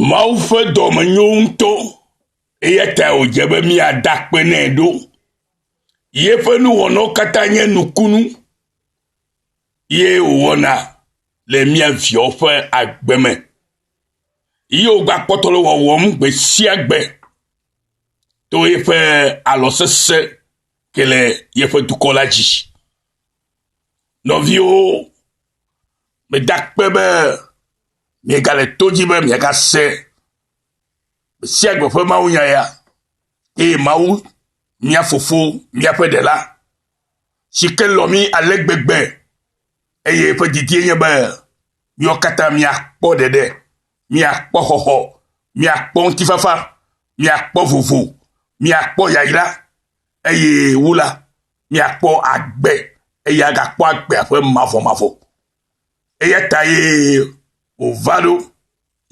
Mawu ƒe dɔme nyo ŋutɔ, eya ta wòdze be míada akpe nɛ ɖo. Yeƒe nuwɔnawo katã nye nukunu, ye wòwɔna le mía viawo ƒe agbe me. Ye wògbakpɔtɔ le wɔwɔm gbe sia gbe to yeƒe alɔ sesẽ ke le yeƒe dukɔ la dzi. Nɔviwo, medakpe be Miegale to dzi be miagase gbe sia gbe ƒe mawunya ya, eye Mawu, mia Fofo, miaƒe Ɖela, si ke lɔ̃ mi ale gbegbe, eye eƒe didie nye be miawo katã miakpɔ ɖeɖe, miakpɔ xɔxɔ, miakpɔ ŋutifafa, miakpɔ vovo, miakpɔ yayra, eye wu la, miakpɔ agbe, eye agakpɔ agbea ƒe mavɔmavɔ. Eya ta ye wòva ɖo,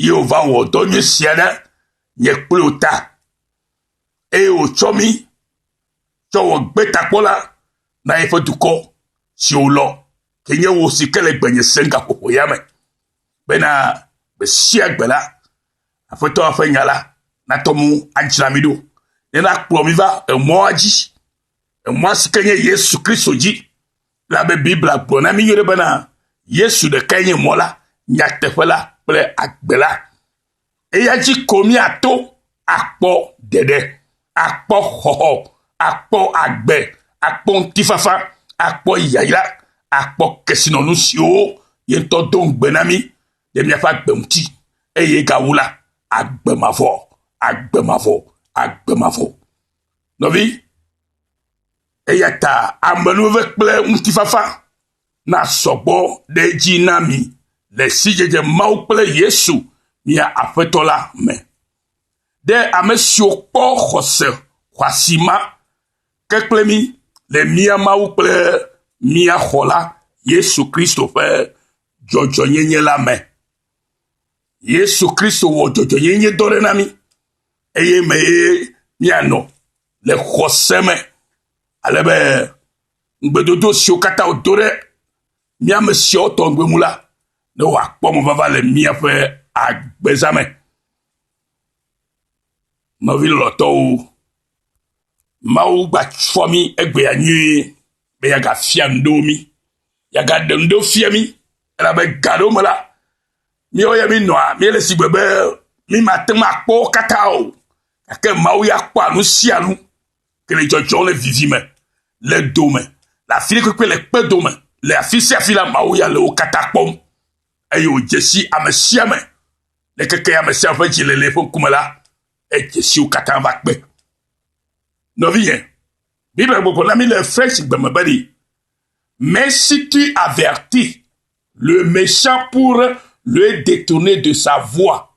ye wòva wɔ dɔ nyui sia ɖe nye kple wò ta, eye wòtsɔ mí tsɔ wɔ gbetakpɔla na yeƒe dukɔ si wòlɔ, ke nye wò si ke le gbenye sem gaƒoƒo ya me, bena gbe sia gbe la, Aƒetɔ ƒe nya la natɔ mo adzra mí ɖo, ne nakplɔ mí va emɔa dzi, emɔa si ke nye Yesu Kristo dzi, Elabe Biblia gblɔ na mí nyuie bena Yesu ɖekae nye mɔ la, nyateƒe la kple agbe la. Eya dzi ko míato akpɔ ɖeɖe, akpɔ xɔxɔ, akpɔ agbe, akpɔ ŋutifafa, akpɔ yayra, akpɔ kesinɔnu siwo ye ŋutɔ do ŋugbe na mí ɖe míaƒe agbe ŋuti, eye gawu la, agbe mavɔ, agbe mavɔ, agbe mavɔ. Nɔvi, Eya ta amenuveve kple ŋutifafa nasɔ gbɔ ɖe edzi na mi le sidzedze Mawu kple Yesu, mia Aƒetɔ la me. Ɖe ame siwo kpɔ xɔse xɔasi ma ke kple mí le mía Mawu kple mía Xɔla, Yesu Kristo ƒe dzɔdzɔenyenye la me. Yesu Kristo wɔ dzɔdzɔenyenye dɔ ɖe na mí, eye mee míanɔ. le xɔse me, ale be ŋugbedodo siwo katã wòdo ɖe mía ame siawo tɔ ŋugbe ŋu la, ne wòakpɔ mɔvava le míaƒe agbeza me. Nɔvi lɔlɔ̃tɔwo, Mawu gbafɔ mí egbea nyuie be yagafia nuɖo mí, yagaɖe nuɖo fia mí, elabe gaɖo me la, míawo ya mínɔa míele sigbe be mímate ŋu akpɔ wo katã o. Gake Mawu ya kpɔa nu sia nu ke le dzɔdzɔm le vivi me, le do me, le afi ɖe kpekpe le kpe do me, le afi sia afi la, Mawu ya le wo katã kpɔm. Eye wòdze si ame sia ame, le keke ame sia ƒe dzi le le eƒe ŋkume la, edze si wo katã va kpe. Nɔvinye, Biblia gbɔgblɔ na mi le French gbe me bene, Mais si tu avertis le méchant pour le détourner de sa voie,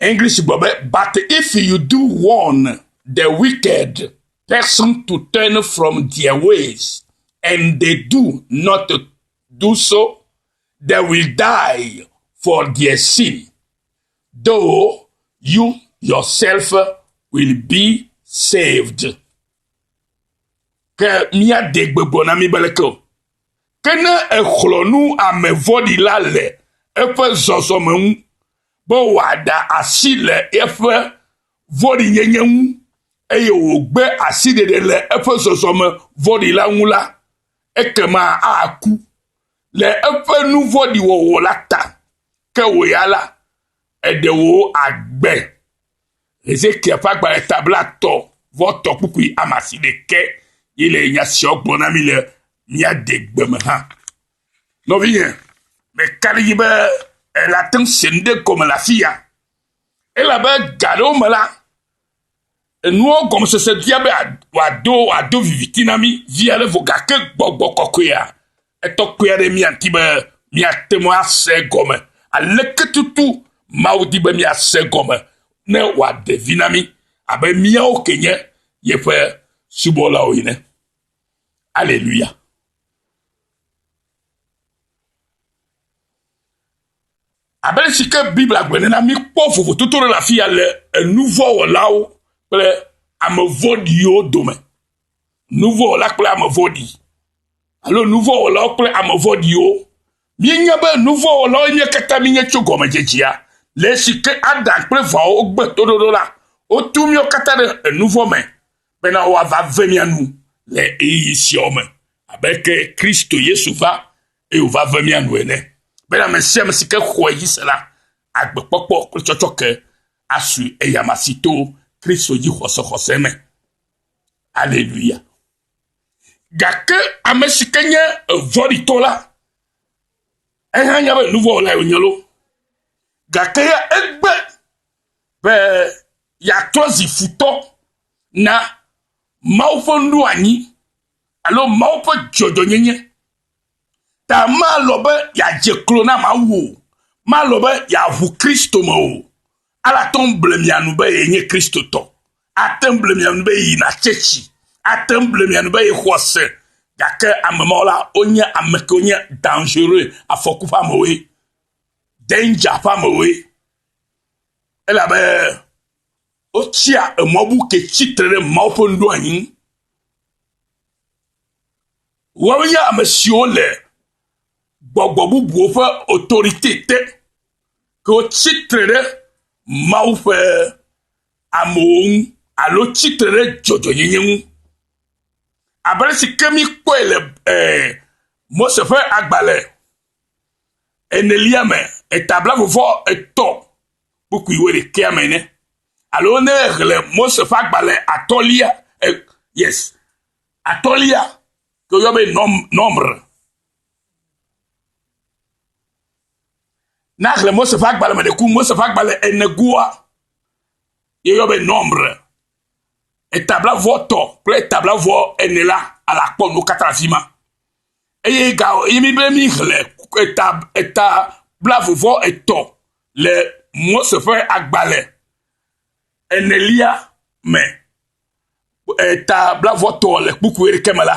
English gblɔ be, But if you do warn the wicked person to turn from their ways, and they do not do so, they will die for their sin, though you yourself will be saved. Ke míade gbegblɔ na mí be leke o. Ke ne èxlɔ̃ nu ame vɔ̃ɖi la le eƒe zɔzɔme ŋu, be wòaɖe asi le eƒe vɔ̃ɖinyenye ŋu, eye wògbe asiɖeɖe le eƒe zɔzɔme vɔ̃ɖi la ŋu la, ekema aku, le eƒe nu vɔ̃ɖi wɔwɔ la ta, ke wò ya la, èɖe wò agbe. Hezekia ƒe agbalẽ ta blatɔ vɔ tɔ kpukpui ame asi ɖeke ye le nya siawo gblɔ na mi le mía degbe me hã. Nɔvinye, meka ɖe edzi be èle ate ŋu se nu ɖe gɔme le afi ya, elabe ga aɖewo me la, enuwo gɔmesese bia be wòado wòado viviti na mí vi ale vɔ, gake gbɔgbɔ kɔkɔea Etɔ kpui aɖee míadi be míate ŋu ase egɔme. Aleke tutu Mawu di be míase egɔme ne wòaɖe vi na mí abe míawo ke nye yeƒe subɔlawo ene? Aleluya! Abe si ke Biblia gblɔe nena, mikpɔ vovototo ɖe le afia le enuvɔ̃wɔlawo kple ame vɔ̃ɖiwo dome. nuvɔwɔla kple ame vɔ̃ɖi alo nuvɔwɔlawo kple ame vɔ̃ɖiwo. Míenya be nuvɔwɔlawo nye katã mínye tso gɔmedzedzea. Le esi ke Adam kple Evawo gbe toɖoɖo la, wotu míawo katã ɖe enuvɔ me bena woava ve mía nu le ɣeyiɣi siawo me abe ke Kristo Yesu va eye wòva ve mía nu ene bena ame sia ame si ke xɔe dzi se la agbe kpɔkpɔ kple tsɔtsɔke asui eyama si to Kristo dzi xɔsexɔse me. Aleluya. Gake ame si ke nye evɔ̃ɖitɔ la, eya nya be nuvɔwɔla ye wònye loo. Gake ya egbe be yeatrɔ zi futɔ na Mawu ƒe nuɖoanyi alo Mawu ƒe dzɔdzɔnyenye. Ta malɔ̃ be yeadze klo na Mawu o. Malɔ̃ be yeaʋu Kristo me o. Alate ŋu ble mia nu be yenye Kristotɔ. Ate ŋu ble mia nu be yeyina tsɛtsi. Ate ŋu ble mia nu be yexɔ se. Gake ame mawo la, wonye ame kewo nye dangereux, afɔku ƒe amewoe, danger ƒe amewoe. Elabe wotsia emɔ bu ke tsitre ɖe Mawu ƒe nuɖoanyi ŋu. Woawo nye ame siwo le gbɔgbɔ bubuwo ƒe autorité te. ke wotsi tre ɖe Mawu ƒe amewo ŋu alo tsi tre ɖe dzɔdzɔnyenye ŋu. Abe ale si ke míkpɔe le eh, Mose ƒe agbalẽ enelia me, etabla vovɔ etɔ̃ kpukpui wo ɖekea me ne. Alo ne hle Mose ƒe agbalẽ atɔlia, eh, yes, atɔlia, ke woyɔ be nɔm, nɔmr, Na xlẽ Mose ƒe agbalẽ me ɖe ku Mose ƒe agbalẽ ene goa ye yɔ be nɔmbre etablavɔ tɔ kple etablavɔ ene la ala kpɔ nu kata le afima eye ga ye mi be mi xlẽ eta eta blavovɔ etɔ le Mose ƒe agbalẽ enelia me etablavɔ tɔ le kpukpui ɖe ke me la.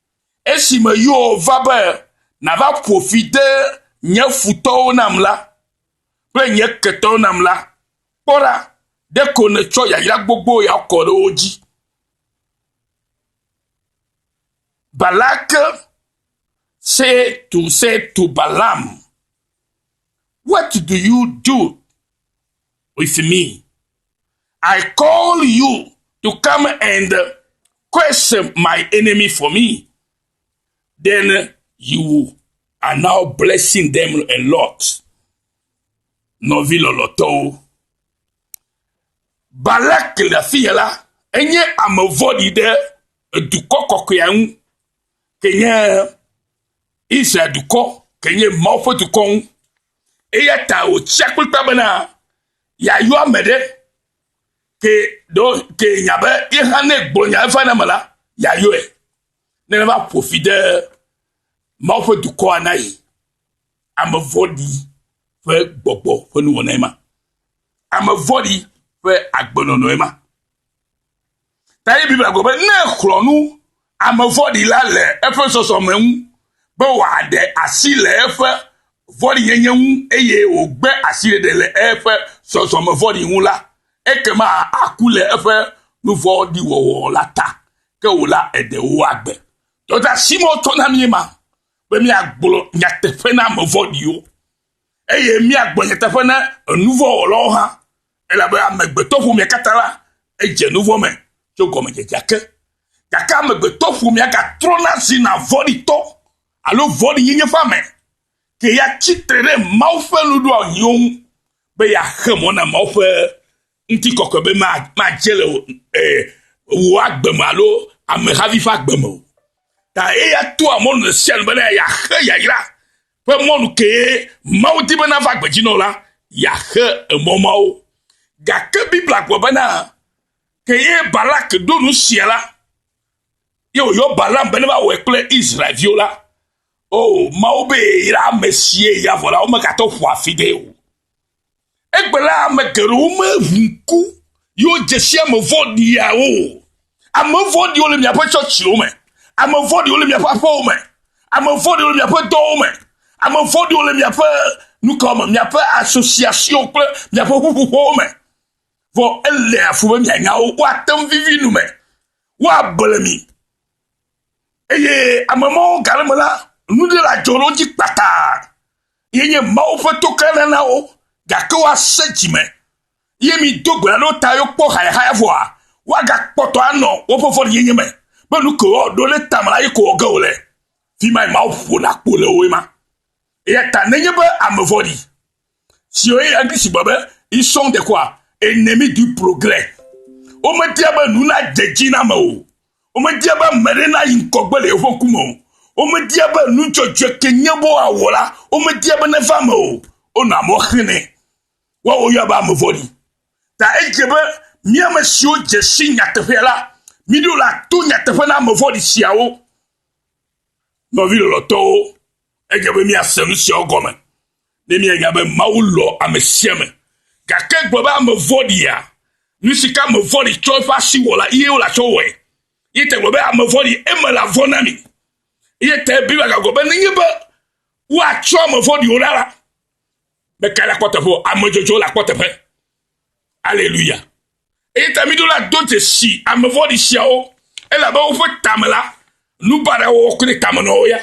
Esime Yoh va be nava ƒo fi de nye futɔwo nam la, kple nye ketɔwo nam la, kpɔ ɖa, ɖeko nètsɔ yayra gbogbo ya kɔ ɖe wo dzi. Balak say to, say to Balaam, What do you do with me? I call you to come and Curse my enemy for me, then you are now blessing them a lot. Nɔvi lɔlɔtɔwo. Balak le afi ya la, enye ame vɔ̃ɖi ɖe edukɔ kɔkɔea ŋu, ke nye Israel dukɔ, ke nye Mawu ƒe dukɔ ŋu. Eya ta wòtsia kplikpaa bena yeayɔ ame ɖe ke ɖo ke nya be ye hã ne gblɔ nya efa na me la yayɔe ne va ƒo fi de mawo ƒe dukɔa na yi ame vɔɖi ƒe gbɔgbɔ ƒe nuwɔnae ma ame vɔɖi ƒe agbenɔnɔe ma Ta ye Biblia gblɔ be ne exlɔ̃ nu ame vɔ̃ɖi la le eƒe zɔzɔme ŋu, be wòaɖe asi le eƒe vɔ̃ɖinyenye ŋu, eye wògbe asiɖeɖe le eƒe zɔzɔme vɔ̃ɖi ŋu la, ekema aku le eƒe nu vɔ̃ɖi wɔwɔ la ta, ke wò la, èɖe wò agbe. Dɔdeasi ma wotsɔ na míe ma, be míagblɔ nyateƒe na ame vɔ̃ɖiwo, eye míagblɔ nyateƒe na enuvɔ̃wɔlawo hã. Elabe amegbetɔƒomea katã la, edze nu vɔ̃ me tso gɔmedzedzea ke. Gake amegbetɔƒomea gatrɔna zina vɔ̃ɖitɔ alo vɔ̃ɖinyenye ƒe ame, ke ya tsi tre ɖe Mawu ƒe nuɖoanyiwo ŋu be yeaxe mɔ na Mawu ƒe ŋutikɔkɔe be madze le wò agbe me alo amehavi ƒe agbe me o. Ta eya toa mɔnu ɖe sia nu bena yeaxe yayra ƒe mɔnu kee Mawu di be nava gbedzi nɔ la, yeaxe emɔ mawo. Gake Biblia gblɔ bena, ke ye Balak ɖo nu sia la, ye wòyɔ Balaam be neva wɔe kple Israelviwo la, o, Mawu be yra ame sie ya vɔ la, womegatɔ ƒoa fi ɖee o. Egbela ame geɖewo me ŋku yewo dzesi ame vɔ̃ɖiawo. Ame vɔ̃ɖiwo le miaƒe tsɔtsiwo me. Ame vɔ̃ɖiwo le miaƒe aƒewo me. Ame vɔ̃ɖiwo le miaƒe dɔwo me. Ame vɔ̃ɖiwo le miaƒe nukɔ me, miaƒe asosiasiwo kple miaƒe ƒuƒoƒewo me. Vɔ ele afu be mianya wo. Woate ŋu vivi nu me. Woable mi. Eye ame mawo gale me la, nuɖe le adzɔ ɖe wo dzi kpataa. ye nye Mawu ƒe toklana na wo, gake woasẽ dzi me, ye mi do gbe alo ta yo kpɔ hayahaya vɔa, woagakpɔtɔ anɔ woƒe vɔ̃ɖinyenye me, be nu ke woawɔ ɖo ɖe tame la ye ko wɔ ge wòle. Fi mae Mawu ƒona kpo le woe ma. Eya ta nenye be ame vɔ̃ɖi siwo ye Eglise gblɔ be isɔŋ dekɔa, ene mi dui ploglɛ, womedia be nu nadze dzi na ame o, Womedia be ame aɖe nayi ŋgɔgbe le yeƒe ŋkume o. Womedia be nu dzɔdzɔe ke nye be woawɔ la, womedia be neva eme o. Wonɔ amewo xlẽnɛ. Woa wo yɔa be ame vɔ̃ɖi. Ta edze be mí ame siwo dze si nyateƒea la, míɖo la to nyateƒe na ame vɔ̃ɖi siawo. Nɔvi lɔlɔ̃tɔwo, edze be míase nu siawo gɔme. Ne mianya be Mawu lɔ̃ ame sia ame, gake gblɔ be ame vɔ̃ɖia, nu si ke ame vɔ̃ɖi tsɔ eƒe asi wɔ la, ye wòle atsɔ wɔe. Ye te gblɔ be ame vɔ̃ɖi, eme la vɔ̃ na mi. Ye te Biblia gagblɔ be nenye be woatsɔ ame vɔ̃ɖiwo ɖa la, meka la kpɔ teƒe o, ame dzɔdzɔwo la kpɔ teƒe. Aleluya. Eyi ta miɖo la do dzesi ame vɔ̃ɖi siawo, elabe woƒe tame la, nu baɖa wɔwɔ koe le tame na wo ya.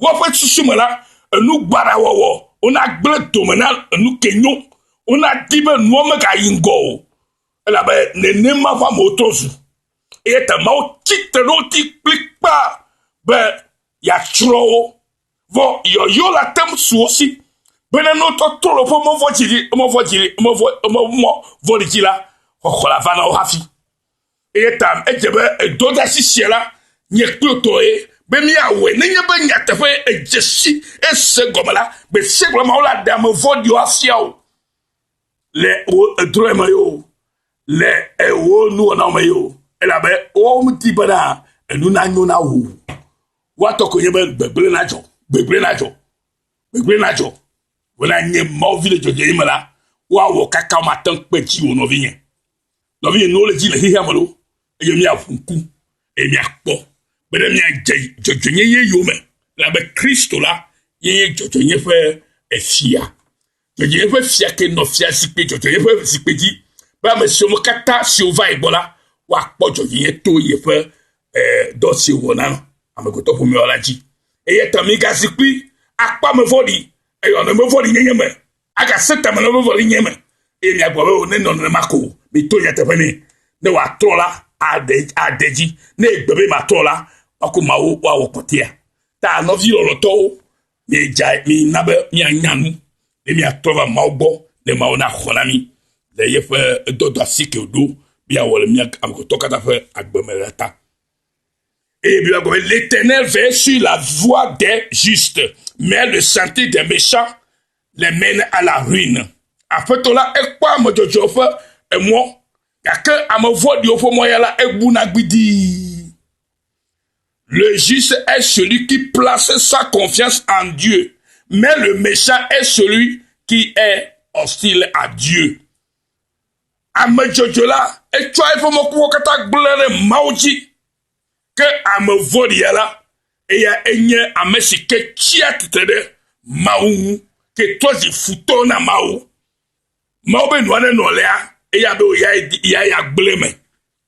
Woƒe susu me la, enu baɖa wɔwɔ, wonagblẽ dome na enu ke nyo, wonadi be nua megayi ŋgɔ o, elabe nenema ƒe amewo trɔ zu. Eya ta Mawu tsi tre ɖe wo ŋuti kplikpaa be yeatsrɔ̃ wo. Vɔ yɔyɔ la tem su wo si bena ne wotɔ trɔ le woƒe mɔvɔ dzi ɖi, mɔvɔ dzi ɖi, mɔvɔ mɔ vɔli dzi la, xɔxɔ la va na wo hafi. Eye ta edze be edɔdasi sia la nye kplo tɔ ye be míawɔe nenye be nyateƒe edze si ese gɔme la gbe sia gbe Mawu la ɖe ame vɔ̃ɖiwo afia o le wo edrɔe me yo le ewo nuwɔnawo me yo elabe wo di bena enu nanyo na wo. Woatɔ koe nye be gbegblẽ nadzɔ, gbegblẽ nadzɔ, gbegblẽ nadzɔ. Wòna nye Mawu vi le dzɔdzɔe me la, woawɔ kaka wo mate ŋu kpe dzi o, nɔvinye. Nɔvinye, nuwo le dzi le xexea me loo, eye míaʋu ŋku, eye míakpɔ be ne míadze dzɔdzɔenyenye yome, elabe Kristo la ye nye dzɔdzɔenye ƒe efia. Eye eƒe fiake nɔ fiazikpui dzɔdzɔe ƒe zikpui dzi, be ame siwo katã siwo va ye gbɔ la, woakpɔ dzɔdzɔe to yeƒe eh, dɔ si wòna amegbetɔ ƒomea la dzi. Eya ta migazi kpli akpɔ ame vɔ̃ɖi, eyɔ nɔnɔme vɔ̃ɖi nyenye me, agase ta me nɔnɔme vɔ̃ɖi nyenye me, eye miagblɔ be, O, ne nɔ nenema ko, mito nyateƒe nɛ. Ne wòatrɔ la, aɖe, aɖe dzi. Ne egbe be matrɔ la, maku Mawu woawɔ kpɔtɔea. Ta nɔvi lɔlɔtɔwo, Míedzae mí na be míanya nu, be míatrɔ va Mawu gbɔ, ne Mawu naxɔ na mí le yeƒe edɔdɔ asi ke wòɖo be yeawɔ le mía amegbetɔ katã ƒe agbe me la ta. Et Bible gɔme, l'Éternel veille sur la voie des justes, mais le sentier des méchants les mène à la ruine. Aƒetɔ la ekpɔa ame dzɔdzɔewo ƒe emɔ, gake ame vɔ̃ɖiwo ƒe mɔ ya la egbuna gbidii. Le juste est celui qui place sa confiance en Dieu, mais le méchant est celui qui est hostile à Dieu. Ame dzɔdzɔ la, etsɔa eƒe mɔkpɔkpɔ katã gblẽ ɖe Mawu dzi. Ke ame vɔ̃ɖia la, eya enye ame si ke tsia tsitre ɖe Mawu ŋu, ke trɔ zi futɔ na Mawu. Mawu be nua nenɔ lea, eya be wòyae di, ya ya gblẽ me.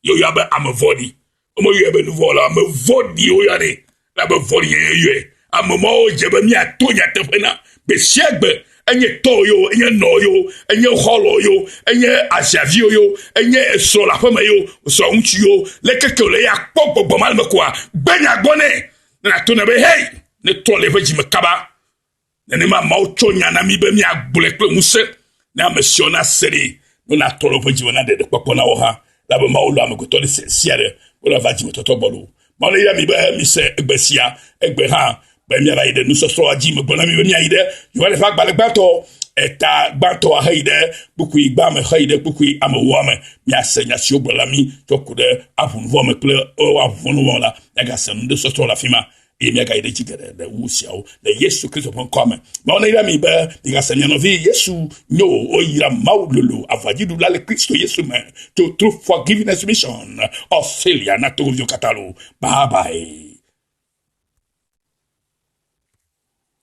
ye woyɔa be ame vɔ̃ɖi. Womeyɔe be nu vɔ̃ wɔla o, ame vɔ̃ɖi woyɔnɛ, elabe vɔ̃ɖinyenye yɔe. Ame mawo dze be míato nyateƒe na gbe sia gbe, enye tɔwò ye wo, enye nɔwò ye wo, enye xɔlɔ̃wò ye wo, enye aziaviwò ye wo, enye esrɔ̃ le aƒeme ye wo, srɔ̃ŋutsu ye wo, leke ke wòle ye akpɔ gbɔgbɔ ma le eme koa, gbe nya gbɔ nɛ, ne nàto nɛ be, Hey! Netrɔ le eƒe dzi me kaba. Nenema Mawu tsɔ nya na mí be míagblɔe kple ŋusẽ ne ame siwo nase ɖi be natɔ ɖe woƒe dzime na ɖeɖekpɔkpɔ na wo hã, elabe Mawu lɔ̃a amegbetɔ ɖe sia sia ɖe wòle va dzimetɔtɔ gbɔ loo. Mawu neyra mi be mise egbe sia, egbe hã, be miava yi ɖe nusɔsrɔ̃a dzi. Megblɔ na mi be miayi ɖe Yohane ƒe agbalẽ gbãtɔ, eta gbãtɔ aheyi ɖe kpukpui gbã me heyi ɖe kpukpui amewoa me. Miase nya siwo gblɔla mi tsɔ ku ɖe aʋunuwɔame kple woaʋunuwɔla. Miagase nunusɔsrɔ̃ le afi ma eye míagayi ɖe dzi geɖe ɖe wu siawo le yesu kristo ƒe ŋkɔa me mawu nayra mi be migase mia nɔvi yesu nyo woyra mawu lolo aʋadziɖula le kristo yesu me to true forgiveness mission of failure na togoviwo katã lo bye bye